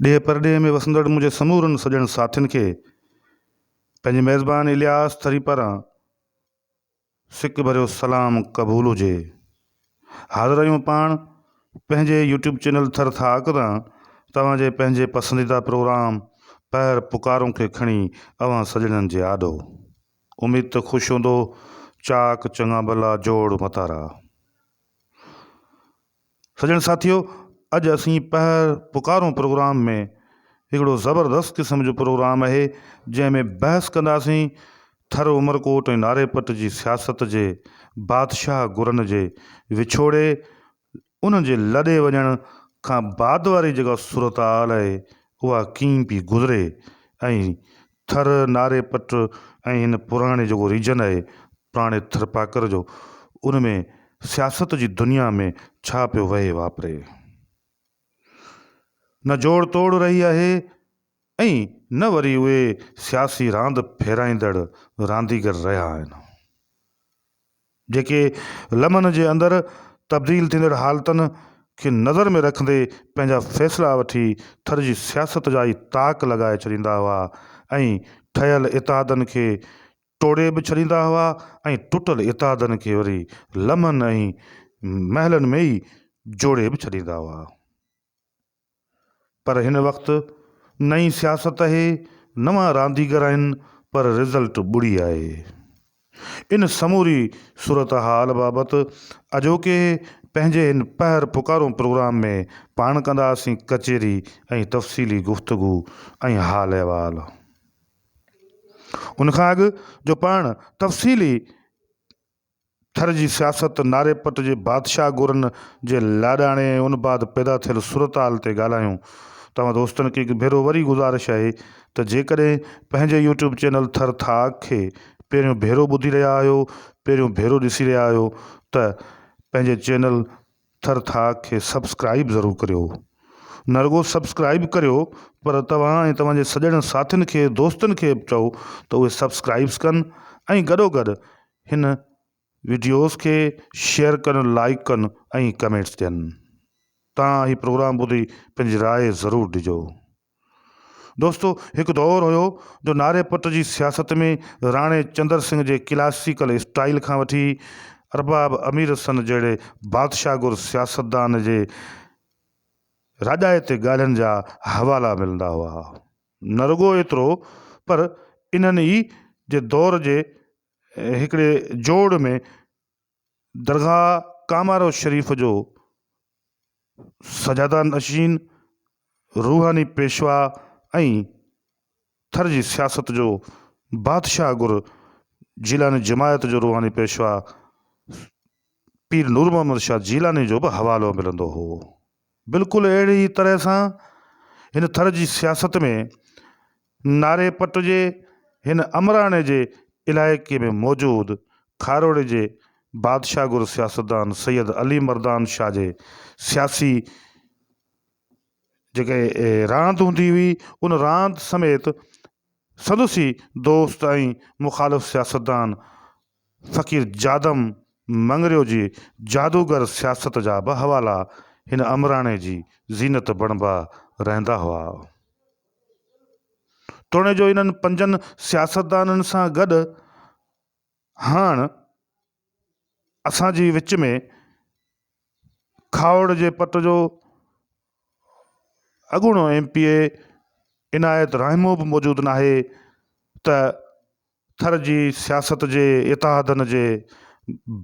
ڏيهه پرڏيهه ۾ وسندڙ منهنجي سمورن سڄڻ ساٿين کي پنهنجي ميزبان الياس ٿري پاران سڪ ڀريو سلام قبول هجي. حاضر آهيون پاڻ پنهنجي يوٽيوب چينل ٿر ٿاڪ تان توهان جي پنهنجي پسنديده پروگرام پهر پڪارون کي کڻي اوهان سڄڻن جي آڏو. اميد ته خوش هوندو چاڪ چڱا ڀلا جوڙ متارا. سڄڻ ساٿيو اڄ اسين پهر پڪارون پروگرام ۾ هڪڙو زبردست قسم جو پروگرام اهي جنهن ۾ بحث ڪنداسين ٿر عمرڪوٽ ۽ ناري پٽ جي سياست جي بادشاهه گرن جي وڇوڙي انهن جي لڏي وڃڻ کان بعد واري جيڪا صورتحال اهي اها ڪيئن پي گذري ۽ ٿر، ناري پٽ ۽ هن پراڻي جيڪو ريجن آهي پراڻي ٿرپاڪر جو ان ۾ سياست جي دنيا ۾ ڇا پيو وهي واپري. نه جوڙ توڙ رهي آهي ۽ نه وري اهي سياسي راند ڦيرائيندڙ رانديگر رهيا آهن. جيڪي لمحن جي اندر تبديل ٿيندڙ حالتن کي نظر ۾ رکندي پنهنجا فيصلا وٺي ٿر جي سياست جا ئي تاڪ لڳائي ڇڏيندا هئا ۽ ٺهيل اتحادن کي ٽوڙي به ڇڏيندا هئا ۽ ٽٽل اتحادن کي وري لمحن ۽ مهلن ۾ ئي جوڙي به ڇڏيندا هئا. پر هن وقت نئين سياست اهي نوان رانديگر آهن پر رزلٽ ٻڙي آهي. ان سموري صورتحال بابت اڄوڪي پنهنجي هن پهر پڪارون پروگرام ۾ پاڻ ڪنداسين ڪچهري ۽ تفصيلي گفتگو ۽ حال احوال. ان کان اڳ جو پاڻ تفصيلي ٿر جي سياست ناري پٽ جي بادشاهه گورن جي لاڏاڻي ۽ ان بعد پيدا ٿيل صورتحال تي ڳالهايون. توهان دوستن کي هڪ ڀيرو وري گذارش آهي ته جيڪڏهن پنهنجي يوٽيوب چينل ٿر ٿاڪ کي پهريون ڀيرو ٻڌي رهيا آهيو پهريون ڀيرو ڏسي رهيا آهيو ته پنهنجي چينل ٿر ٿا کي سبسڪرائيب ضرور ڪريو نه رڳو سبسڪرائيب ڪريو پر توهان ۽ توهان جي سڄڻ ساٿين کي دوستن کي به چئو ته اهي سبسڪرائيبس ڪن ۽ گڏو گڏ هن وڊيوز کي شيئر ڪن لائيڪ ڪن ۽ ڪمينٽس ڏين تان هي پروگرام ٻڌي پنهنجي راء ضرور ڏجو. دوستو هڪ دور هيو جو نعري پٽ جي سياست ۾ راڻي چندر سنگهه جي ڪلاسيڪل اسٽائيل کان وٺي ارباب امير حسن جهڙي بادشاهه گر سياستدان جي راڄائتي ڳالهين جا حوالا ملندا هئا. نه رڳو ايترو پر انهن ئي جي دور جي هڪڙي جوڙ ۾ درگاهه ڪامارو شريف جو سجاده نشين، روحاني پيشوا ۽ ٿر جي سياست جو بادشاهه گر جيلاني جماعت جو روحاني پيشوا پير نورمحمد شاهه جيلاني جو به حوالو ملندو هو. بلڪل اهڙي ئي طرح سان هن ٿر جي سياست ۾ ناري پٽ جي هن امراڻي جي علائقي ۾ موجود کاروڙي جي بادشاهگر سياستدان سيد علي مردان شاهه جي سياسي جيڪا راند هوندي هئي ان راند سميت سندس ئي دوست ۽ مخالف سياستدان فقير جادم مڱريو جي جادوگر سياست جا به حوالا هن امراڻي جي زينت بڻبا رهندا هئا. توڻي جو انهن پنجن سياستدانن سان گڏ هاڻ اسان جي وچ ۾ کاهوڙ جي پٽ جو اڳوڻو M P A Inayat Rahmoo به موجود ناهي ته ٿر جي سياست جي اتحادن جي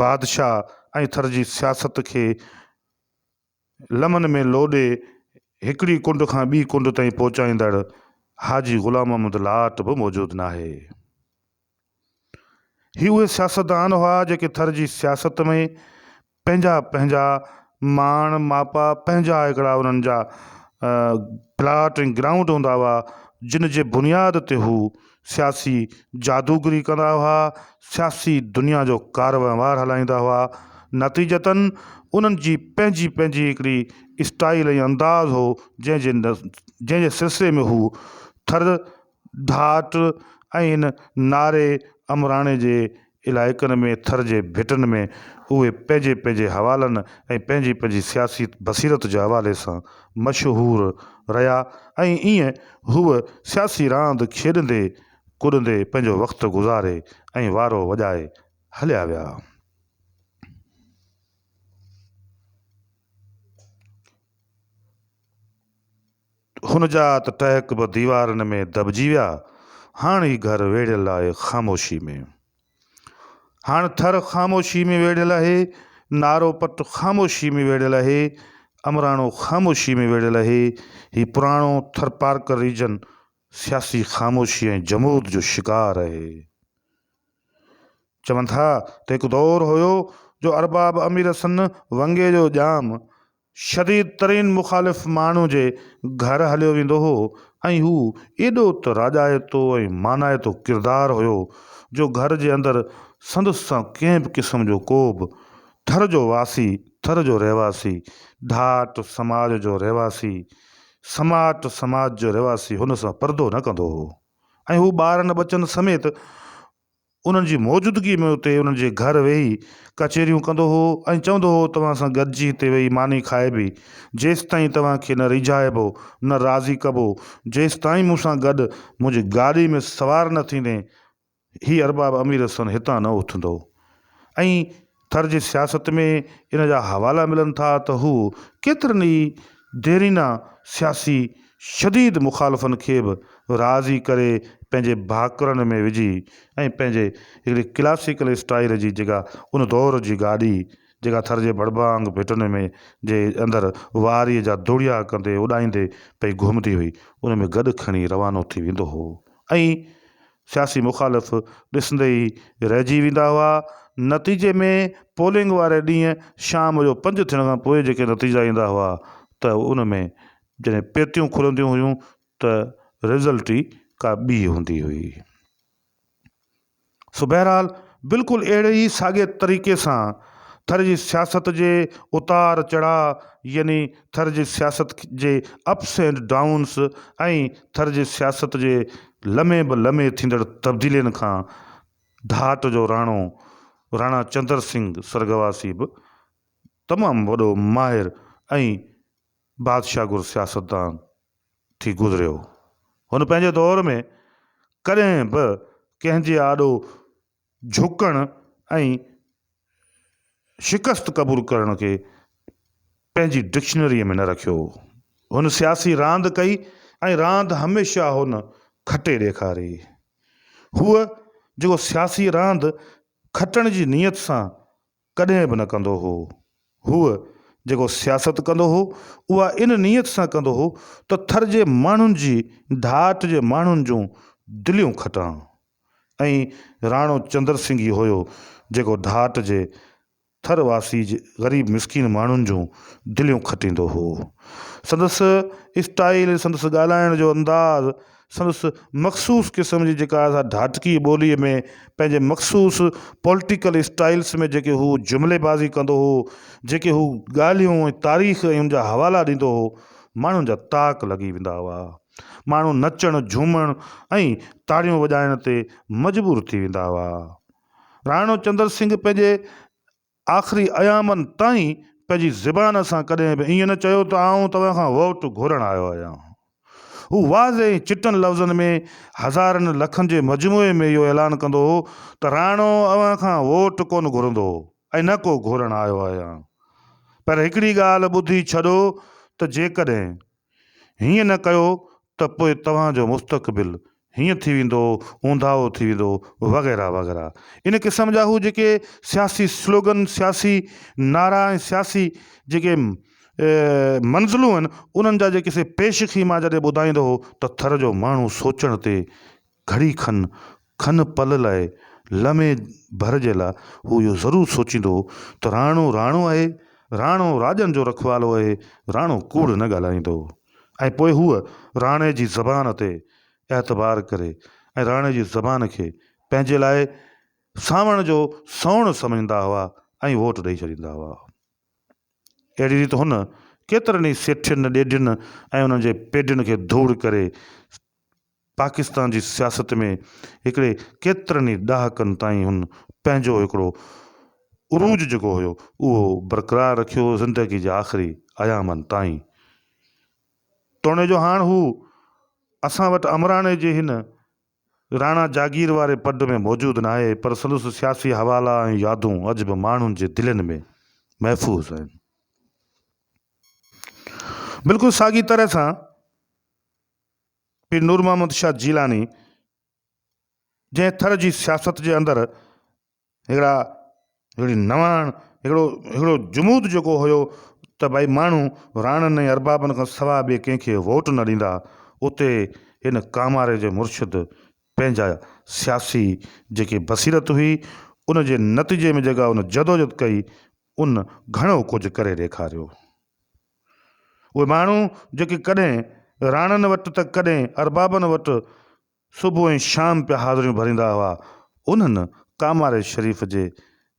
بادشاهه ۽ ٿر جي سياست کي لمن ۾ لوڏي هڪڙي ڪنڊ کان ٻي ڪنڊ تائين پهچائيندڙ حاجي غلام محمد لاٽ به موجود ناهي. هي اهي سياستدان هئا جيڪي ٿر جي سياست ۾ پنهنجا پنهنجا ماڻ ماپا پنهنجا هڪڙا انهن جا پلاٽ ۽ گرائونڊ هوندا هئا جن جي بنياد تي هو سياسي جادوگري ڪندا هئا سياسي دنيا جو ڪار وهنوار هلائيندا هئا نتيجتاً انهن جي پنهنجي پنهنجي هڪڙي اسٽائيل ۽ انداز هو جنهن جي جنهن جي سلسلي ۾ هو ٿر ڍاٽ ۽ هن ناري امراڻي جي علائقن ۾ ٿر جي ڀٽن ۾ اهي پنهنجي پنهنجي حوالن ۽ پنهنجي پنهنجي سياسي بصيرت جي حوالي سان مشهور رهيا ۽ ايئن هو سياسي راند کيڏندي ڪڏندي پنهنجو وقت گذاري ۽ وارو وڄائي هليا ويا. هن جا ته ٽهڪ به ديوارن ۾ دٻجي ويا. هاڻ هي گهر ويڙهيل آهي خاموشي ۾. هاڻ ٿر خاموشي ۾ ويڙهيل آهي، نارو پٽ خاموشي ۾ ويڙهيل آهي، امراڻو خاموشي ۾ ويڙهيل آهي. هي پراڻو ٿرپارڪر ريجن سياسي خاموشي ۽ جمود جو شڪار آهي. چون ٿا ته هڪ دور هيو جو ارباب امير سن ونگي جو ڄام شديد ترين مخالف ماڻهو جي گهر هليو ويندو هو ۽ هو ايڏو ته راڄائتو ۽ مانائتو ڪردار هيو جو گهر جي اندر سندس سان ڪنهن به قسم جو ڪوبه ٿر جو واسي، ٿر جو رهواسي، ڍاٽ، سماج جو رهواسي، سماٽ، سماج جو رهواسي هن سان پردو نه ڪندو هو ۽ هو ٻارن ٻچن سميت انهن جي موجودگيء ۾ اتي انهن جي گهر ويهي ڪچهريون ڪندو هو ۽ چوندو هو، توهان سان گڏجي هتي ويهي ماني کائبي، جيستائين توهان کي نه ريجهائبو، نه راضي ڪبو، جيستائين مون سان گڏ منهنجي گاڏيء ۾ سوار نه ٿيندين، هي ارباب امير حسن هتان نه اٿندو ۽ ٿر جي سياست ۾ ان جا حوالا ملن ٿا ته هو ڪيترن ئي ديرينا سياسي شديد مخالفن کي به راضي ڪري پنهنجي ڀاڪرن ۾ وجهي ۽ پنهنجي هڪڙي ڪلاسيڪل اسٽائيل جي جيڪا ان دور جي گاڏي جيڪا ٿر جي ڀڙڀانگ ڀٽن ۾ جي اندر واريء جا دوڙيا ڪندي اڏائيندي پئي گهمندي هئي ان ۾ گڏ کڻي روانو ٿي ويندو هو ۽ سياسي مخالف ڏسندي ئي رهجي ويندا هئا. نتيجي ۾ پولنگ واري ڏينهن شام جو پنج ٿيڻ کان پوء جيڪي نتيجا ايندا هئا ته ان ۾ جڏهن پيتيون کلنديون هيون ته رزلٽ ئي ڪا ٻي هوندي هئي. سو بهرحال بلڪل اهڙي ئي ساڳئي طريقي سان ٿر جي سياست جي اتار چڙهاء يعني ٿر جي سياست جي اپس اينڊ ڊائونس ۽ ٿر جي سياست جي لمحي به لمحي ٿيندڙ تبديلين کان ڍاٽ جو راڻو راڻا چندر سنگهه سرڳواسي به تمام وڏو ماهر ۽ بادشاهگر سياستدان ٿي گذريو هن پنهنجي دور ۾ ڪڏهن به ڪنهن جي آڏو جهڪڻ ۽ شڪست قبول ڪرڻ کي پنهنجي ڊڪشنريء ۾ نه رکيو هو. هن سياسي راند ڪئي ۽ راند هميشه هن کٽي ڏيکاري. هوء جيڪو سياسي راند کٽڻ جي نيت سان ڪڏهن به نه ڪندو هو. هوء جيڪو سياست ڪندو هو، اها ان نيت سان ڪندو هو ته ٿر جي ماڻهن جي ڍاٽ جي ماڻهن جون دليون کٽان. ائين راڻو چندر سنگهه ئي هيو جيڪو ڍاٽ جي ٿر واسي غريب مسڪين ماڻهن جون دليون کٽيندو هو. سندس اسٽائيل، سندس ڳالهائڻ جو انداز، سندس مخصوص قسم جي جيڪا اسان ڍاٽڪي ٻوليء ۾ پنهنجي مخصوص پولٽيڪل اسٽائلس ۾ جيڪي هو جملي بازي ڪندو هو، جيڪي هو ڳالهيون ۽ تاريخ ۽ ان جا حوالا ڏيندو هو، ماڻهن جا تاڪ لڳي ويندا هئا. ماڻهو نچڻ، جهومڻ ۽ تاڙيون وڄائڻ تي مجبور ٿي ويندا هئا. راڻو چندر سنگهه پنهنجي آخري ايامن تائين پنهنجي زبان سان ڪڏهن به ائين نه چيو ته آئون توهان کان ووٽ گهرڻ آيو آهيان. هو واضح ۽ چٽن لفظن ۾ هزارن لکن جي مجموعي ۾ اهو اعلان ڪندو هو ته راڻو اوهان کان ووٽ ڪونه گهرندو ۽ نه ڪو گهرڻ آيو آهيان پر هڪڙي ڳالهه ٻڌي ڇڏو ته جيڪڏهن هيئن نه ڪيو ته پوء توهان جو مستقبل هيئن ٿي ويندو، اونداهو ٿي ويندو وغيره وغيره ان قسم جا هو جيڪي سياسي سلوگن، سياسي نعرا ۽ سياسي جيڪي منزلون آهن انهن جا جيڪي سي پيش کي مان جڏهن ٻڌائيندو هو ته ٿر جو ماڻهو سوچڻ تي گهڙي کن، کن پل لاء، لمحي ڀر جي لاء هو اهو ضرور سوچيندو هو ته راڻو راڻو آهي، راڻو راڄن جو رکوالو آهي، راڻو ڪوڙ نه ڳالهائيندو هو ۽ پوء هو راڻي جي زبان تي اعتبار ڪري ۽ راڻي جي زبان کي پنهنجي لاء سانوڻ جو سنئوڻ سمجهندا هئا ۽ ووٽ ڏئي ڇڏيندا هئا. اهڙي ريت هن ڪيترن ئي سيٺين، ڏيڍين ۽ انهن جي پيڍين کي ڌوڙ ڪري پاڪستان جي سياست ۾ هڪڙي ڪيترن ئي ڏهاڪن تائين هن پنهنجو هڪڙو عروج جيڪو هيو اهو برقرار رکيو زندگي جي آخري ايامن تائين توڻي جو هاڻ هو اسان وٽ امراڻي جي هن راڻا جاگير واري پڊ ۾ موجود ناهي پر سندس سياسي حوالا ۽ يادون اڄ به ماڻهن جي دلين ۾ محفوظ آهن. بلڪل ساڳي طرح سان. پير نور محمد شاهه جيلاني جنهن ٿر جي سياست جي اندر هڪڙا هڪڙي نواڻ هڪڙو هڪڙو جمود جيڪو هيو ته ڀائي ماڻهو راڻن ۽ اربابن کان سواء ٻئي ڪنهن کي ووٽ نه ڏيندا اتي هن ڪاماري جي مرشد پنهنجا سياسي جيڪي بصيرت هئي ان جي نتيجي ۾ جيڪا ان جدوجھد ڪئي ان گھڻو ڪجھ ڪري ڏيکاريو اهي ماڻهو جيڪي ڪڏهن راڻن وٽ ته ڪڏهن اربابن وٽ صبح ۽ شام پيا حاضريون ڀريندا هئا، انهن ڪاماري شريف جي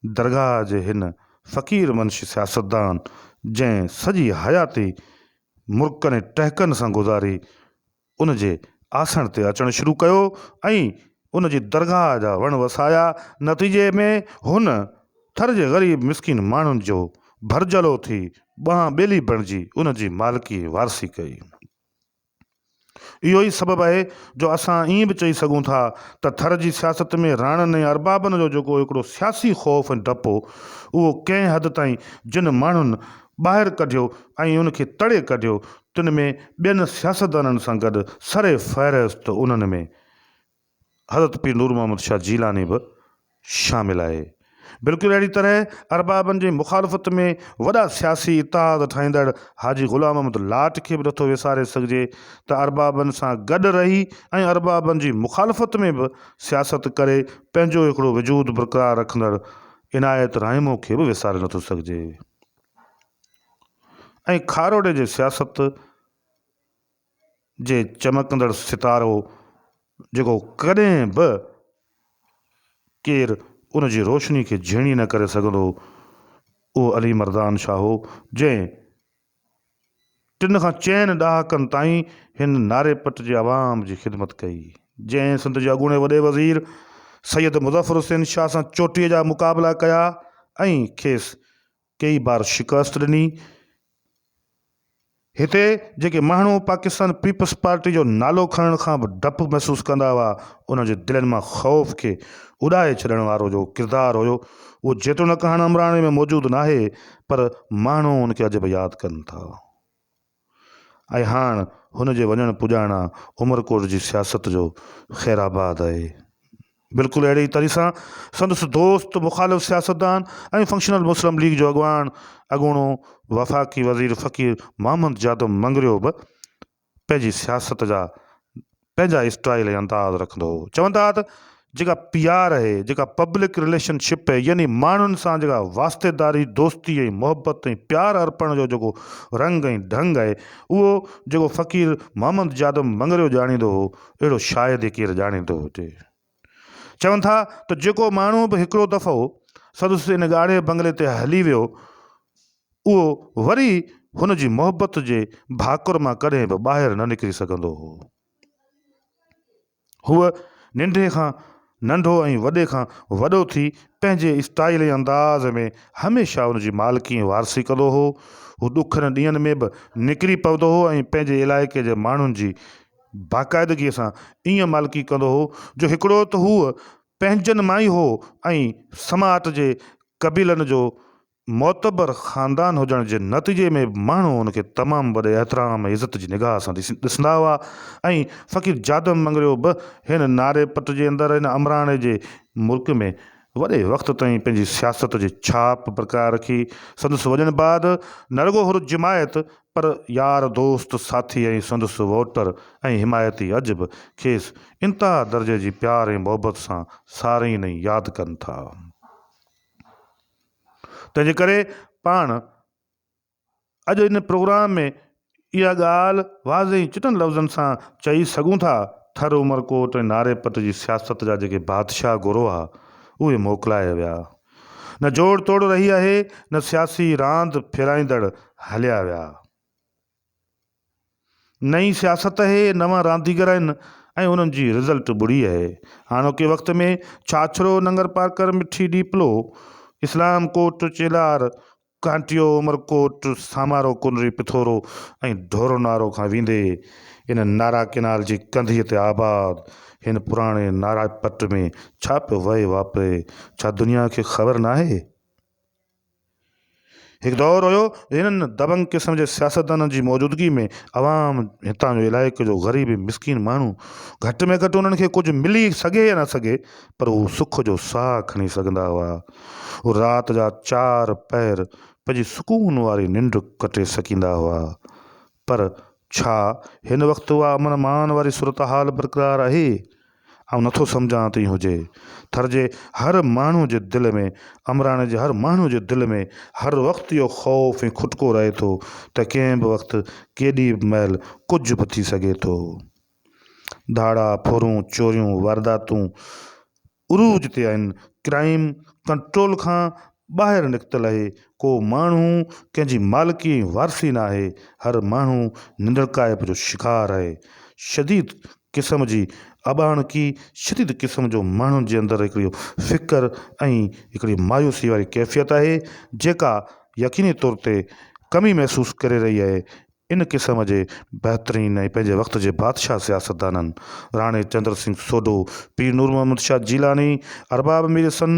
درگاهه جي هن فقير منشي سياستدان جنهن سڄي حياتي مرڪن ۽ ٽهڪن سان گذاري، ان جي آسڻ تي اچڻ شروع ڪيو ۽ ان جي درگاهه جا وڻ وسايا. نتيجي ۾ هن ٿر جي غريب مسڪين ماڻهن جو ڀرجهلو ٿي ٻانهن ٻيلي بڻجي ان جي مالڪي ۽ وارثي ڪئي. اهو ئي سبب آهي جو اسان ائين به چئي سگهون ٿا ته ٿر جي سياست ۾ راڻن ۽ اربابن جو جيڪو هڪڙو سياسي خوف ۽ ڊپ هو، اهو ڪنهن حد تائين جن ماڻهن ٻاهر ڪڍيو ۽ ان کي تڙي ڪڍيو تن ۾ ٻين سياستدانن سان گڏ سر فهرست انهن ۾ حضرت پير نور محمد شاهه جيلاني به شامل آهي. بلڪل اهڙي طرح اربابن جي مخالفت ۾ وڏا سياسي اتحاد ٺاهيندڙ حاجي غلام احمد لاٽ کي به نٿو وساري سگهجي ته اربابن سان گڏ رهي ۽ اربابن جي مخالفت ۾ به سياست ڪري پنهنجو هڪڙو وجود برقرار رکندڙ عنايت رحيمو کي به وساري نٿو سگهجي. ۽ کاروڏي جي سياست جي چمڪندڙ ستارو هو جيڪو ڪڏهن به ڪير ان جي روشني کي جهيڻي نه ڪري سگهندو هو اهو علي مردان شاهه هو جنهن ٽن کان چئن ڏهاڪن تائين هن ناري پٽ جي عوام جي خدمت ڪئي جنهن سنڌ جي اڳوڻي وڏي وزير سيد مظفر حسين شاهه سان چوٽيء جا مقابلا ڪيا ۽ کيس ڪيئي بار شڪست ڏني. هتي جيڪي ماڻهو پاڪستان پيپلز پارٽي جو نالو کڻڻ کان به ڊپ محسوس ڪندا هئا، انهن جي دلين مان خوف کي اڏائي ڇڏڻ وارو جو ڪردار هيو، اهو جيتوڻڪ هاڻ عمراڻي ۾ موجود ناهي، پر ماڻهو ان کي اڄ به ياد ڪن ٿا. ۽ هاڻ هن جي وڃڻ پڄاڻا عمرڪوٽ جي سياست جو خيرآباد آهي. بلڪل اهڙي ئي طرح سان سندس دوست مخالف سياستدان ۽ فنڪشنل مسلم ليگ جو اڳواڻ اڳوڻو وفاقي وزير فقير محمد جادم مڱريو به پنهنجي سياست جا پنهنجا اسٽائيل ۽ انداز رکندو هو. چون ٿا ته جيڪا پي آر اهي، جيڪا پبلڪ رليشن شپ اهي يعني ماڻهن سان جيڪا واسطيداري، دوستي ۽ محبت ۽ پيار ارپڻ جو جيڪو رنگ ۽ ڍنگ اهي اهو جيڪو فقير محمد جادم مڱريو ڄاڻيندو هو اهڙو شايد ئي ڪير ڄاڻيندو هجي. چون ٿا ته جيڪو ماڻهو به هڪڙو دفعو سندس ان ڳاڙهي بنگلي تي هلي ويو، اهو وري هن جي محبت جي ڀاڪر مان ڪڏهن به ٻاهر نه نڪري سگهندو هو. هوء ننڍي کان ننڍو ۽ وڏي کان وڏو ٿي پنهنجي اسٽائيل ۽ انداز ۾ هميشه ان جي مالڪي ۽ وارثي ڪندو هو. هو ڏکن ڏينهن ۾ به نڪري پوندو هو ۽ پنهنجي علائقي جي ماڻهن جي باقاعدگيء سان ايئن مالڪي ڪندو هو جو هڪڙو ته هو پنهنجن مان ئي هو ۽ سماعت جي قبيلن جو معتبر خاندان هجڻ جي نتيجي ۾ به ماڻهو هن کي تمام وڏي احترام ۽ عزت جي نگاهه سان ڏسندا هئا ۽ فقير جادم مڱريو به هن ناري پٽ جي اندر هن امراڻي جي ملڪ ۾ وڏي وقت تائين پنهنجي سياست جي ڇاپ برقرار رکي سندس وڄڻ بعد نه رڳو هن جماعت پر يار دوست، ساٿي ۽ سندس ووٽر ۽ حمايتي اڄ به کيس انتها درجي جي پيار ۽ محبت سان سارين ۽ ياد ڪن ٿا. تنهن جي ڪري پاڻ اڄ ان پروگرام ۾ اها ڳالهه واضح ۽ چٽن لفظن سان چئي سگهون ٿا ٿر عمرڪوٽ ۽ ناري پٽ جي سياست جا جيڪي بادشاهه گروهه اهي موڪلائي ويا نه جوڙ توڙ رهي آهي نه سياسي راند ڦيرائيندڙ هليا ويا. نئين سياست اهي نوان رانديگر آهن ۽ انهن جي رزلٽ ٻڙي اهي. هاڻوڪي وقت ۾ ڇاڇرو، ننگرپارڪر، مٺي ڏيپلو، اسلام ڪوٽ، چيلار، ڪانٽيو، عمرڪوٽ، سامارو، ڪنري، پٿورو ۽ ڍورو نارو کان ويندي ان نارا ڪينال جي ڪنڌيء تي آباد هن پراڻي نارا پٽ ۾ ڇا پيو وهي واپري، ڇا دنيا کي خبر ناهي؟ هڪ دور هيو جو هنن دبنگ قسم جي سياستدانن جي موجودگي ۾ عوام هتان جو علائقي جو غريب ۽ مسڪين ماڻهو گهٽ ۾ گهٽ انهن کي ڪجهه ملي سگهي يا نه سگهي پر هو سک جو ساهه کڻي سگهندا هئا. هو رات جا چار پهر پنهنجي سڪون واري ننڊ ڪٽي سگهندا هئا. پر ڇا هن وقت اها امن امان واري صورتحال برقرار آهي؟ آئون نٿو سمجهان ته ائين هجي. ٿر جي هر ماڻهو جي دل ۾ امراڻي جي هر ماڻهو جي دل ۾ هر وقت اهو خوف ۽ کٽڪو رهي ٿو ته ڪنهن به وقت ڪيڏي به مهل ڪجهه به ٿي سگهي ٿو. ڌاڙا ڦرون، چوريون، وارداتون، عروج تي آهن، ڪرائيم ڪنٽرول کان ٻاهر نڪتل آهي، ڪو ماڻهو ڪنهن جي مالڪي ۽ وارثي نه آهي، هر ماڻهو ننڊڪائپ جو شڪار آهي، شديد قسم جي اٻاڻڪي، شديد قسم جو ماڻهن جي اندر هڪڙي فڪر ۽ هڪڙي مايوسي واري ڪيفيت آهي، جيڪا يقيني طور تي ڪمي محسوس ڪري رهي آهي، ان قسم جي بهترين ۽ پنهنجي وقت جي بادشاهه سياستدانن، راڻي چندر سنگهه سوڍو، پير نور محمد شاهه جيلاني، ارباب مير حسن،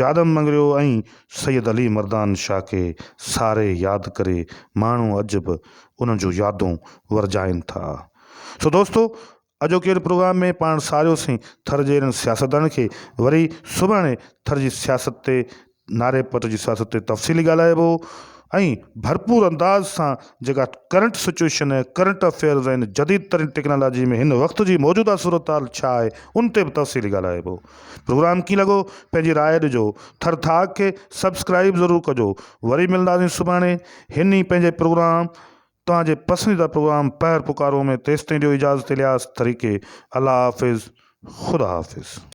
جادم مڱريو ۽ سيد علي مردان شاهه کي ساري ياد ڪري ماڻهو اڄ به انهن جون يادون ورجائين ٿا. سو دوستو! اڄوڪي ان پروگرام ۾ پاڻ ساريوسين ٿر جي انهن سياستدانن کي وري سڀاڻي ٿر جي سياست تي ناري پٽ جي سياست تي تفصيلي ڳالهائبو ۽ ڀرپور انداز سان جيڪا ڪرنٽ سچوئيشن ۽ ڪرنٽ افيئرز ۽ جديد ترين ٽيڪنالاجي ۾ هن وقت جي موجوده صورتحال ڇا آهي ان تي به تفصيلي ڳالهائبو پروگرام ڪيئن لڳو پنهنجي راء ڏجو ٿر ٿاڪ کي سبسڪرائب ضرور ڪجو وري ملنداسين سڀاڻي هن ئي پنهنجي پروگرام توهان جي پسنديده پروگرام پهر پڪارو ۾ تيستائين ڏيو اجازت الياس ٿريڪي الله حافظ خدا حافظ.